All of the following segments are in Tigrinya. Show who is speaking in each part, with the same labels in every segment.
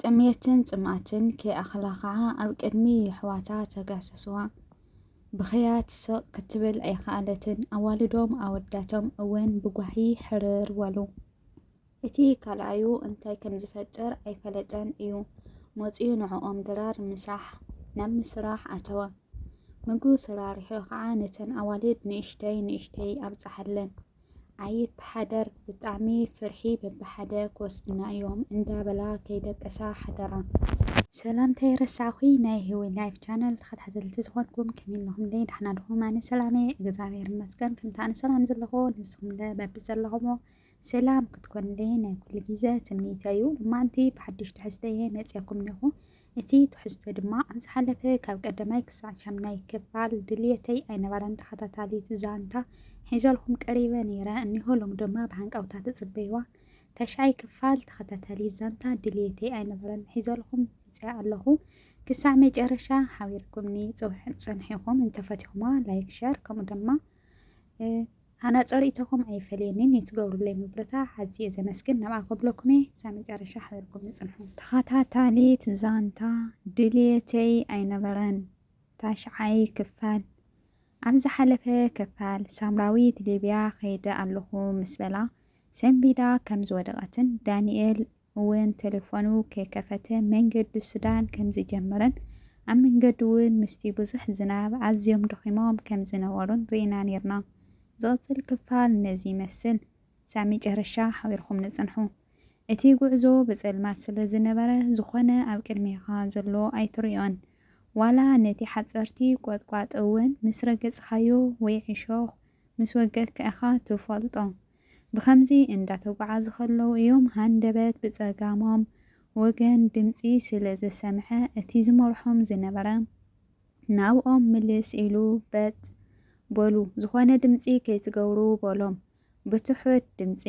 Speaker 1: ጥምየትን ጽምኣትን ከይኣኽላ ኸኣ ኣብ ቅድሚ የሕዋታ ተጋሰስዋ። ብኽያት ስቕ ክትብል ኣይኸኣለትን፣ ኣዋልዶም ኣወዳቶም እውን ብጓሂ ሕርር በሉ። እቲ ካልኣዩ እንታይ ከም ዝፈጥር ኣይፈለጠን እዩ መጺኡ ንዕኦም ድራር ምሳሕ ናብ ምስራሕ ኣተወ። ምግቡ ሰራሪሑ ኸኣ ነተን ኣዋልድ ንእሽተይ ንእሽተይ ኣብጽሓለን። ኣይተሓደር ብጣዕሚ ፍርሒ በብሓደ ክወስድና እዮም እንዳበላ ከይደቀሳ ሓደራ። ሰላም ተይረሳዕኹ ናይ ህዊ ላይፍ ቻነል ተኸታተልቲ ዝኾንኩም ከመይ ኣለኹም ደይ ዳሕና ድኹም ኣነ ሰላም እየ እግዚኣብሔር ይመስገን ከምቲ ኣነ ሰላም ዘለኹ ንስኹም ለ በቢ ዘለኹሞ ሰላም ክትኮንለይ ናይ ኩሉ ግዜ ትምኒተይ እዩ ልማንቲ ብሓድሽ ትሕዝተ እየ መፅየኩም እኔኹ እቲ ትሕዝቶ ድማ ኣብ ዝሓለፈ ካብ ቀዳማይ ክሳዕ ሻምናይ ክፋል ድልየተይ ኣይነበረን ተኸታታሊት ዛንታ ሒዘልኩም ቀሪበ ነይረ እኒሆ ሎሚ ድማ ብሃንቀውታ ትጽበይዋ ታሽዓይ ክፋል ተኸታታሊት ዛንታ ድልየተይ ኣይነበረን ሒዘልኩም መጺኣ ኣለኹ ክሳዕ መጨረሻ ሓቢርኩምኒ ጽንሒኹም እንተፈቲኹማ ላይክ ሸር ከምኡ ድማ ኣነ ጸሪኢቶኹም ኣይፈልየኒን ዩ ትገብሩለይ ምብርታዕ ኣዝየ ዘመስግን ናብኣ ከብሎኩም እየ ክሳብ መጨረሻ ሓቢርኩምኒ ጽንሑ። ተኸታታሊት ዛንታ ድልየተይ ኣይነበረን ታሽዓይ ክፋል ኣብ ዝሓለፈ ክፋል ሳምራዊት ሊብያ ከይደ ኣለኹ ምስ በላ ሰንቢዳ ከም ዝወደቀትን ዳኒኤል እውን ተሌፎኑ ከይከፈተ መንገዱ ሱዳን ከምዝጀመረን ኣብ መንገዱ እውን ምስቲ ብዙሕ ዝናብ ኣዝዮም ደኺሞም ከምዝነበሩን ርኢና ኔርና። ዝቕጽል ክፋል ነዚ ይመስል። ክሳብ መጨረሻ ሓቢርኩምኒ ጽንሑ። እቲ ጉዕዞ ብጸልማት ስለዝነበረ ዝኾነ ኣብ ቅድሜኻ ዘሎ ኣይትሪኦን። ዋላ ነቲ ሓጸርቲ ቆጥቋጥ እውን ምስ ረገጽካዮ ወይ ዕሾኽ ምስ ወገእካ ኢኻ ትፈልጦ። ብኸምዚ እንዳተጓዓዙ ከለዉ እዮም ሃንደበት ብጸጋሞም ወገን ድምጺ ስለ ዝሰምዐ እቲ ዝመርሖም ዝነበረ ናብኦም ምልስ ኢሉ በጥ በሉ ዝኾነ ድምጺ ከይትገብሩ በሎም ብትሑት ድምጺ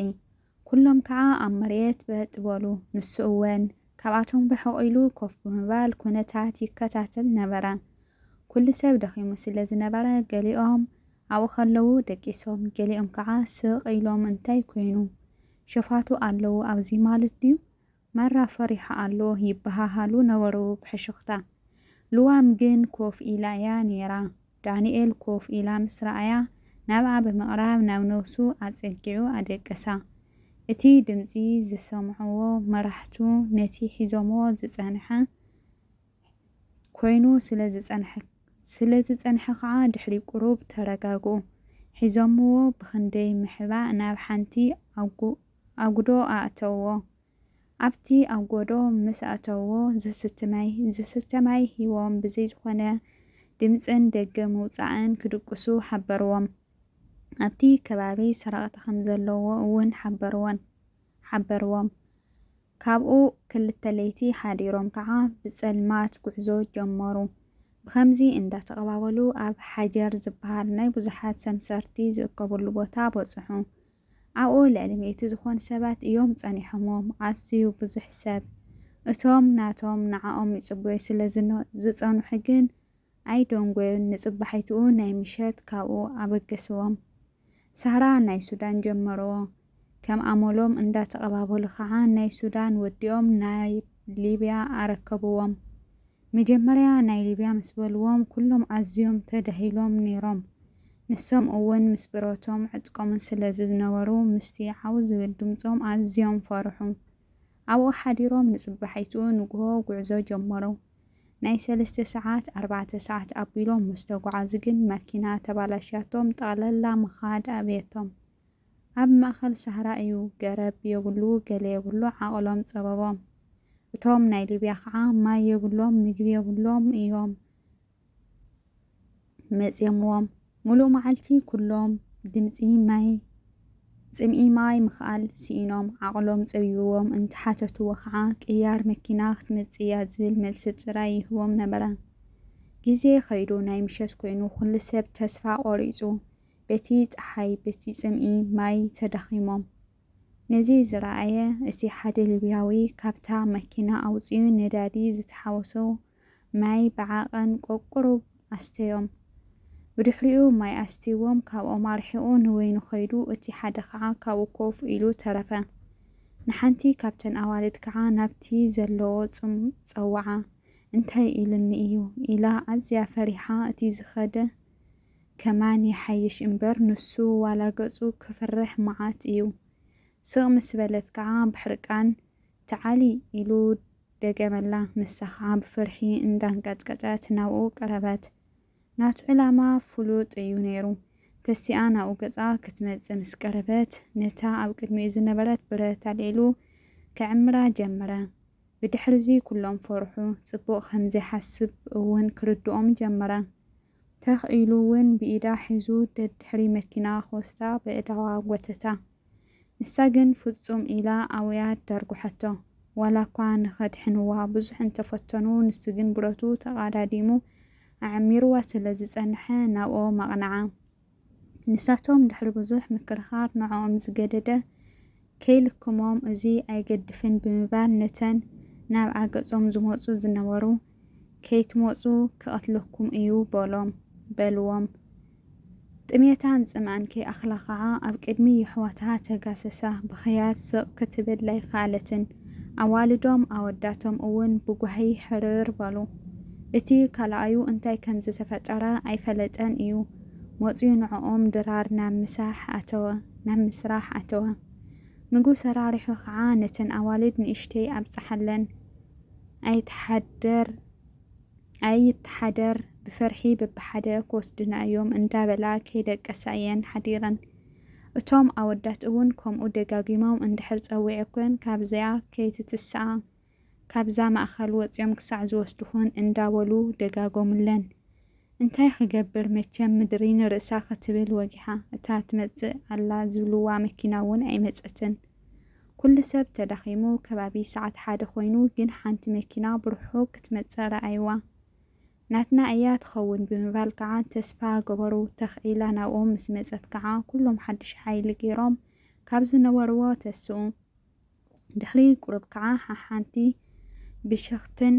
Speaker 1: ኩሎም ከዓ ኣብ መሬት በጥ በሉ ንሱ እወን ካብኣቶም ርሕቕ ኢሉ ኮፍ ብምባል ኩነታት ይከታተል ነበረ። ኩሉ ሰብ ደኺሙ ስለ ዝነበረ ገሊኦም ኣብኡ ከለዉ ደቂሶም ገሊኦም ከኣ ስቕ ኢሎም እንታይ ኮይኑ ሸፋቱ ኣለዉ ኣብዚ ማለት ድዩ ማራ ፈሪሑ ኣሎ ይበሃሃሉ ነበሩ ብሕሹኽታ። ልዋም ግን ኮፍ ኢላ'ያ ኔራ። ዳንኤል ኮፍ ኢላ ምስ ረኣያ፣ ናብኣ ብምቕራብ ናብ ነብሱ ኣጸጊዑ ኣደቀሳ። እቲ ድምጺ ዝሰምዕዎ መራሕቱ ነቲ ሒዞምዎ ዝጸንሐ ኮይኑ ስለ ዝጸንሐ ከኣ ድሕሪ ቁሩብ ተረጋግኡ። ሒዞምዎ ብኽንደይ ምሕባእ ናብ ሓንቲ ኣጉዶ ኣእተውዎ። ኣብቲ ኣብ ጎዶ ምስ ኣተዎ ዝስቲ ማይ ዝስተ ማይ ሂቦም ብዘይ ዝኾነ ድምጽን ደገ ምውጻእን ክድቅሱ ሓበርዎም። ኣብቲ ከባቢ ሰረቕቲ ከም ዘለዎ እውን ሓበርዎን ሓበርዎም። ካብኡ ክልተ ለይቲ ሓዲሮም ከኣ ብጸልማት ጉዕዞ ጀመሩ። ብኸምዚ እንዳ ተቐባበሉ ኣብ ሓጀር ዝበሃል ናይ ብዙሓት ሰምሰርቲ ዝእከብሉ ቦታ በጽሑ። ኣብኡ ልዕሊ ሚእቲ ዝኾኑ ሰባት እዮም ጸኒሖምዎም፣ ኣዝዩ ብዙሕ ሰብ። እቶም ናቶም ንዓኦም ይጽበዩ ስለ ዝጸንሑ ግን ኣይደንጎዩን፣ ንጽባሒትኡ ናይ ምሸት ካብኡ ኣበገስዎም። ሳህራ ናይ ሱዳን ጀመርዎ፣ ከም ኣመሎም እንዳተቐባበሉ ከኣ ናይ ሱዳን ወዲኦም ናብ ሊብያ ኣረከብዎም። መጀመርያ ናይ ሊብያ ምስ በልዎም ኩሎም ኣዝዮም ተዳሂሎም ኔሮም ንሶም እውን ምስ ብረቶም ዕጥቆምን ስለ ዝነበሩ ምስቲ ዓው ዝብል ድምጾም ኣዝዮም ፈርሑ ኣብኡ ሓዲሮም ንጽባሒቱ ንግሆ ጉዕዞ ጀመሩ ናይ ሰለስተ ሰዓት ኣርባዕተ ሰዓት ኣቢሎም ምስ ተጓዓዙ ግን መኪና ተባላሽያቶም ጠቕለላ ምኻድ ኣብየቶም ኣብ ማእከል ሳህራ እዩ ገረብ የብሉ ገለ የብሉ ዓቕሎም ጸበቦም እቶም ናይ ሊብያ ከኣ ማይ የብሎም ምግቢ የብሎም እዮም መጽየምዎም ሙሉእ መዓልቲ ኩሎም ድምጺ ማይ ጽምኢ ማይ ምኽኣል ስኢኖም ዓቕሎም ጸቢብዎም እንተሓተትዎ ከኣ ቅያር መኪና ክትመጽእ እያ ዝብል መልሲ ጥራይ ይህቦም ነበረ። ግዜ ከይዱ ናይ ምሸት ኮይኑ ኩሉ ሰብ ተስፋ ቆሪጹ በቲ ጸሓይ በቲ ጽምኢ ማይ ተዳኺሞም። ነዚ ዝረኣየ እቲ ሓደ ሊብያዊ ካብታ መኪና ኣውጺኡ ነዳዲ ዝተሓወሶ ማይ ብዓቐን ቆቁሩብ ኣስተዮም። ብድሕሪኡ ማይ ኣስትይዎም ካብኦም ኣርሒቑ ንበይኑ ከይዱ እቲ ሓደ ከኣ ካብኡ ኮፍ ኢሉ ተረፈ። ንሓንቲ ካብተን ኣዋልድ ከኣ ናብቲ ዘለዎ ጽም ጸውዓ። እንታይ ኢሉኒ እዩ ኢላ ኣዝያ ፈሪሓ እቲ ዝኸደ ከማን ይሓይሽ እምበር ንሱ ዋላ ገጹ ክፍርሕ መዓት እዩ ስቅ ምስ በለት ከኣ ብሕርቃን ተዓልይ ኢሉ ደገመላ ንሳ ከኣ ብፍርሒ እንዳንቀጥቀጠት ናብኡ ቀረበት ናቱ ዕላማ ፍሉጥ እዩ ነይሩ ተሲኣ ናብኡ ገጻ ክትመጽእ ምስ ቀረበት ነታ ኣብ ቅድሚኡ ዝነበረት ብረት ኣልዒሉ ክዕምራ ጀመረ ብድሕርዚ ኩሎም ፈርሑ ጽቡቅ ከምዘይሓስብ እውን ክርድኦም ጀመረ ተኽ ኢሉ እውን ብኢዳ ሒዙ ደድሕሪ መኪና ክወስዳ በእዳዋ ጐተታ። ንሳ ግን ፍጹም ኢላ ኣውያ ደርጕሐቶ። ዋላ እኳ ንኸድሕንዋ ብዙሕ እንተ ፈተኑ ንሱ ግን ብረቱ ተቓዳዲሙ ኣዕሚሩዋ ስለ ዝጸንሐ ናብኦም ኣቕንዓ። ንሳቶም ድሕሪ ብዙሕ ምክርኻር ንዕኦም ዝገደደ ከይልክሞም እዚ ኣይገድፍን ብምባል ነተን ናብ ኣገጾም ዝመጹ ዝነበሩ ከይትመጹ ክቐትለኩም እዩ በሎም በልዎም ጥሜታን ጽምኣን ከይኣኽላ ኸኣ ኣብ ቅድሚ የሕዋትሃ ተጋሰሳ ብኽያት ስቕ ክትብል ኣይከኣለትን ኣዋልዶም ኣወዳቶም እውን ብጓሂ ሕርር በሉ እቲ ካልኣዩ እንታይ ከምዝተፈጠረ ኣይፈለጠን እዩ መጽዩ ንዕኦም ድራር ናብ ምሳሕ ኣተወ፣ ናብ ምስራሕ ኣተወ። ምግቢ ሰራሪሑ ከኣ ነተን ኣዋልድ ንእሽተይ ኣብጽሓለን። ኣይትሓደር ኣይትሓደር ብፍርሒ በብሓደ ክወስዱና እዮም እንዳበላ ከይደቀሳ እየን ሓዲረን። እቶም ኣወዳት እውን ከምኡ ደጋጊሞም እንድሕር ጸዊዑክን ካብዚኣ ከይትትስኣ ካብዛ ማእኸል ወፅዮም ክሳዕ ዝወስድኹን እንዳበሉ ደጋገሙለን። እንታይ ክገብር መቸም ምድሪ ንርእሳ ክትብል ወጊሓ። እታ ትመፅእ ኣላ ዝብልዋ መኪና እውን ኣይመፀትን። ኩሉ ሰብ ተዳኺሙ ከባቢ ሰዓት ሓደ ኮይኑ ግን ሓንቲ መኪና ብርሑቕ ክትመፅእ ረኣይዋ። ናትና እያ ትኸውን ብምባል ከዓ ተስፋ ገበሩ። ተኽ ኢላ ናብኦም ምስ መፀት ከዓ ኩሎም ሓዱሽ ሓይሊ ገይሮም ካብ ዝነበርዎ ተስኡ። ድሕሪ ቁሩብ ከኣ ሓሓንቲ ብሽኽትን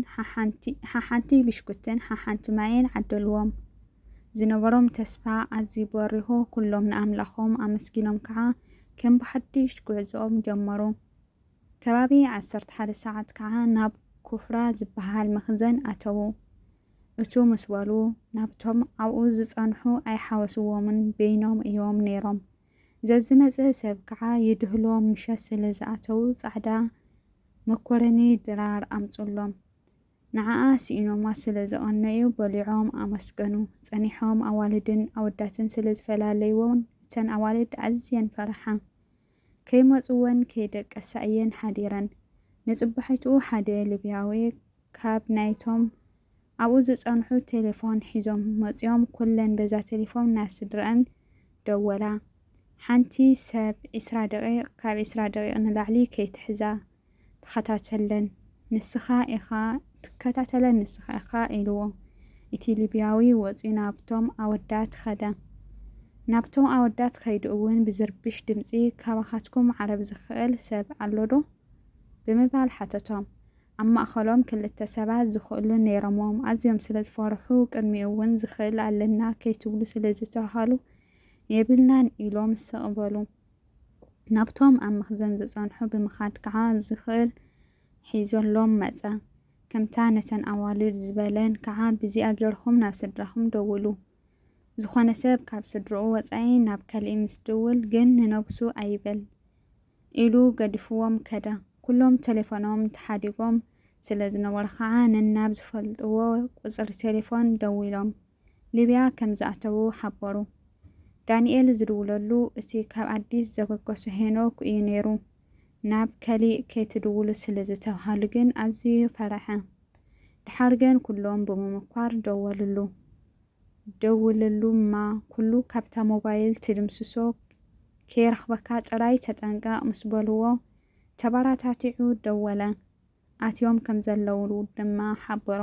Speaker 1: ሓሓንቲ ብሽኩትን ሓሓንቲ ማይን ዓደልዎም። ዝነበሮም ተስፋ ኣዝዩ በሪሆ ኩሎም ንኣምላኾም ኣመስጊኖም ከኣ ከም ብሓድሽ ጉዕዞኦም ጀመሩ። ከባቢ ዓሰርተ ሓደ ሰዓት ከኣ ናብ ኩፍራ ዝበሃል መኽዘን ኣተዉ። እቱ ምስ በሉ ናብቶም ኣብኡ ዝጸንሑ ኣይሓወስዎምን በይኖም እዮም ነይሮም። ዘዝመጸ ሰብ ከኣ ይድህሎም ምሸት ስለ ዝኣተዉ ጻዕዳ መኮረኒ ድራር ኣምጹሎም ንዓኣ ስኢኖማ ስለ ዝቐነዩ በሊዖም ኣመስገኑ ጸኒሖም ኣዋልድን ኣወዳትን ስለ ዝፈላለይወን እተን ኣዋልድ ኣዝየን ፈራሓ ከይመጽወን ከይደቀሳ እየን ሓዲረን ንጽባሒትኡ ሓደ ልብያዊ ካብ ናይቶም ኣብኡ ዝጸንሑ ቴሌፎን ሒዞም መጽዮም ኩለን በዛ ቴሌፎም ናብ ስድረኣን ደወላ ሓንቲ ሰብ ዕስራ ደቂቅ ካብ ዕስራ ደቂቅ ንላዕሊ ከይትሕዛ ተኸታተለን ንስኻ ኢኻ ትከታተለን ንስኻ ኢኻ ኢልዎ እቲ ሊብያዊ ወጽዩ ናብቶም ኣወዳት ኸደ ናብቶም ኣወዳት ከይዱ እውን ብዝርብሽ ድምጺ ካባኻትኩም ዓረብ ዝኽእል ሰብ ኣሎዶ ብምባል ሓተቶም ኣብ ማእከሎም ክልተ ሰባት ዝኽእሉ ነይሮምዎም፣ ኣዝዮም ስለ ዝፈርሑ፣ ቅድሚኡ እውን ዝኽእል ኣለና ከይትብሉ ስለ ዝተባህሉ፣ የብልናን ኢሎም ስቕ በሉ። ናብቶም ኣብ መኽዘን ዝጸንሑ ብምኻድ ከኣ ዝኽእል ሒዞሎም መጸ። ከምታ ነተን ኣዋልድ ዝበለን ከኣ ብዚኣ ገይርኩም ናብ ስድራኹም ደውሉ። ዝኾነ ሰብ ካብ ስድርኡ ወጻኢ ናብ ካልእ ምስ ድውል ግን ንነብሱ ኣይበል። ኢሉ ገዲፍዎም ከደ። ኩሎም ቴሌፎኖም ተሓዲጎም ስለ ዝነበሩ ኸኣ ነናብ ዝፈልጥዎ ቁጽሪ ቴሌፎን ደዊሎም ሊብያ ከም ዝኣተዉ ሓበሩ። ዳንኤል ዝድውለሉ እቲ ካብ ኣዲስ ዘበገሶ ሄኖክ እዩ ነይሩ። ናብ ከሊእ ከይትድውሉ ስለ ዝተብሃሉ ግን ኣዝዩ ፈረሐ። ደሓር ግን ኩሎም ብምምኳር ደወልሉ። ደውለሉ እማ ኩሉ ካብታ ሞባይል ትድምስሶ ከይረኽበካ ጥራይ ተጠንቀቕ ምስ በልዎ ተበራታቲዑ ደወለ። ኣትዮም ከም ዘለዉ ድማ ሓበሮ።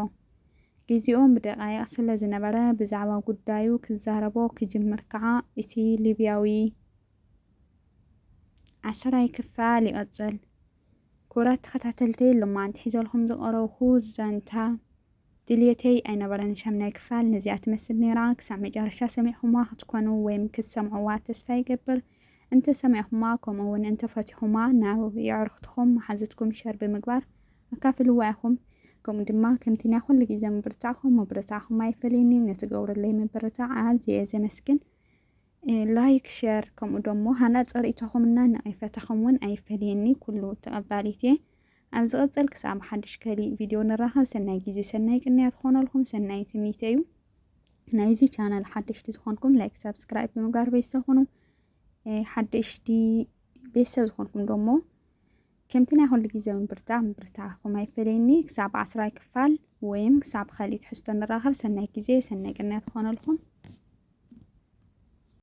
Speaker 1: ግዜኦም ብደቓይቕ ስለ ዝነበረ ብዛዕባ ጉዳዩ ክዛረቦ ክጅምር ከኣ እቲ ሊብያዊ። ዓስራይ ክፋል ይቕጽል። ክቡራት ተኸታተልተይ ሎማዓንቲ ሒዘልኩም ዝቐረብኩ ዛንታ። ድልየተይ ኣይነበረን ሻምናይ ክፋል ነዚኣ ትመስል ኔራ ክሳዕ መጨረሻ ሰሚዕኹማ ክትኮኑ ወይም ክትሰምዕዋ ተስፋ ይገብር እንተ ሰሚዕኹማ ከምኡ ውን እንተ ፈቲኹማ ናብ የዕርኽትኹም መሓዙትኩም ሸር ብምግባር ኣካፍልዋ ኢኹም ከምኡ ድማ ከምቲ ናይ ኩሉ ግዜ ምብርታዕኹም ምብርታዕኹም ኣይፈለየኒ ነትገብሩለይ ምብርታዕ ኣዝየ እየ ዘመስግን ላይክ ሸር ከምኡ ደሞ ሃናጸ ርእይቶኹም እና ነቐፈታኹም እውን ኣይፈለየኒ ኩሉ ተቐባሊት እየ። ኣብ ዝቕጽል ክሳብ ሓድሽ ከሊእ ቪድዮ ንራኸብ። ሰናይ ግዜ ሰናይ ቅንያት ክኾነልኩም ሰናይ ትምኒተይ እዩ። ናይዚ ቻናል ሓደሽቲ ዝኾንኩም ላይክ ሳብስክራይብ ብምግባር ቤተሰብ ኩኑ። ሓደሽቲ ቤተሰብ ዝኾንኩም ደሞ ከምቲ ናይ ኩሉ ግዜ ምብርታዕ ምብርታዕኩም ኣይፈለየኒ ክሳብ ዓስራይ ክፋል ወይም ክሳብ ብ ካሊእ ትሕዝቶ ንራኸብ ሰናይ ግዜ ሰናይ ቅንያት ይኾነልኩም።